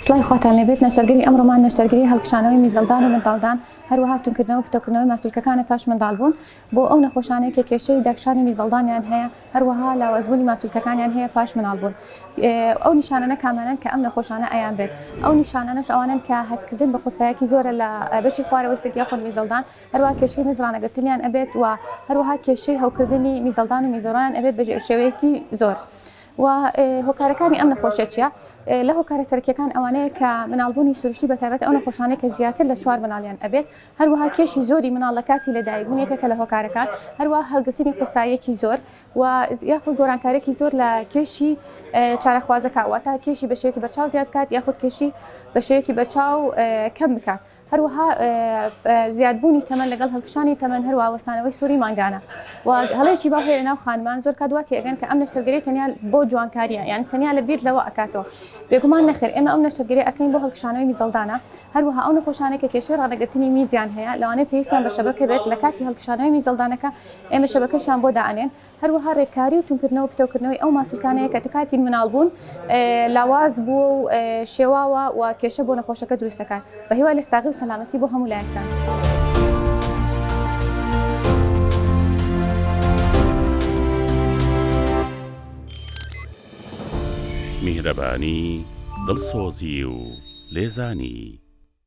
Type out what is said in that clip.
سڵاوی خواتان لێبێت نەشتەرگەری ئەمڕۆمان نەشتەرگەری هەڵکشانەوەی میزەڵدان و منداڵدان هەروەها توندکردنەوە و پتەوکردنەوەی ماسولکەکانە پاش منداڵبوون بۆ ئەو نەخۆشانەی کە کێشەی داکشانی میزەڵدانیان هەیە هەروەها لاوازبوونی ماسولکەکانیان هەیە پاش مناڵبوون ئەو نیشانانە کامانەن کە ئەم نەخۆشانە ئەیان بێت ئەو نیشانانەش ئەوانن کە هەستکردن بە قورسایەکی زۆرە لە بەشی خوارەوەی سک یاخود میزەڵدان هەروە کێشەی میزڕانەگرتنیان ئەبێت و هەروەها کێشەی هەوکردنی میزەڵدان و میزۆران ئەبێت بە شێوەیەکی زۆر. و هۆکارەکانی ئەم نەخۆشیە چیە؟ لە هۆکارە سەرکیەکان ئەوانەیە کە مناڵبوونی سروشتی بەتابەت ئەو نەخۆشانەی کە زیاتر لە چوار مناڵیان ئەبێت هەروەها کێشی زۆری مناڵ لە کاتی لەدایکبوون یەکێکە لە هۆکارەکان هەروە هەڵگرتنی قورساییەکی زۆر و یاخود گۆرانکارێکی زۆر لە کێشی چارەخوازەکە واتە کێشی بەشێکی بەچاو زیاد بکات یاخود کێشی بەشێکی بەچاو کەم بکات. هەروەها زیادبوونی تەمەن لەگەڵ هەڵکشانی تەمەن هەروە وەستانەوەی سووری مانگانە و هەڵێکی باو هەیە ناو خانمان زۆر کات واتی ئەگەن کە ئەم نەشتەرگەری تەنیا بۆ جوانکاریە یان تەنیا لە بیر لەوە ئەکاتەوە بێگومان نەخێر ئێمە ئەم نەشتەرگەری ئەکەین بۆ هەڵکشانەوەی میزەڵدانە هەروەها ئەو نەخۆشانێک کە کێشەی ڕانەگرتنی میزیان هەیە لەوانەیە پێویستیان بە شەبەکە بێت لە کاتی هەڵکشانەوەی میزەڵدانەکە ئێمە شەبەکەشیان بۆ دائەنێن هەروەها رێککاری و توندکردنەوە پتەوکردنەوەی ئەو ماسولکانەیە کە کاتی مناڵبوون لاواز بووە و شێواوە و کێشە بۆ نەخۆشەکە دروست دەکات، بەهیوای لەشساغی و سەلامەتی بۆ هەموو لایەکتان. میهرەبانی، دڵسۆزی و لێزانی.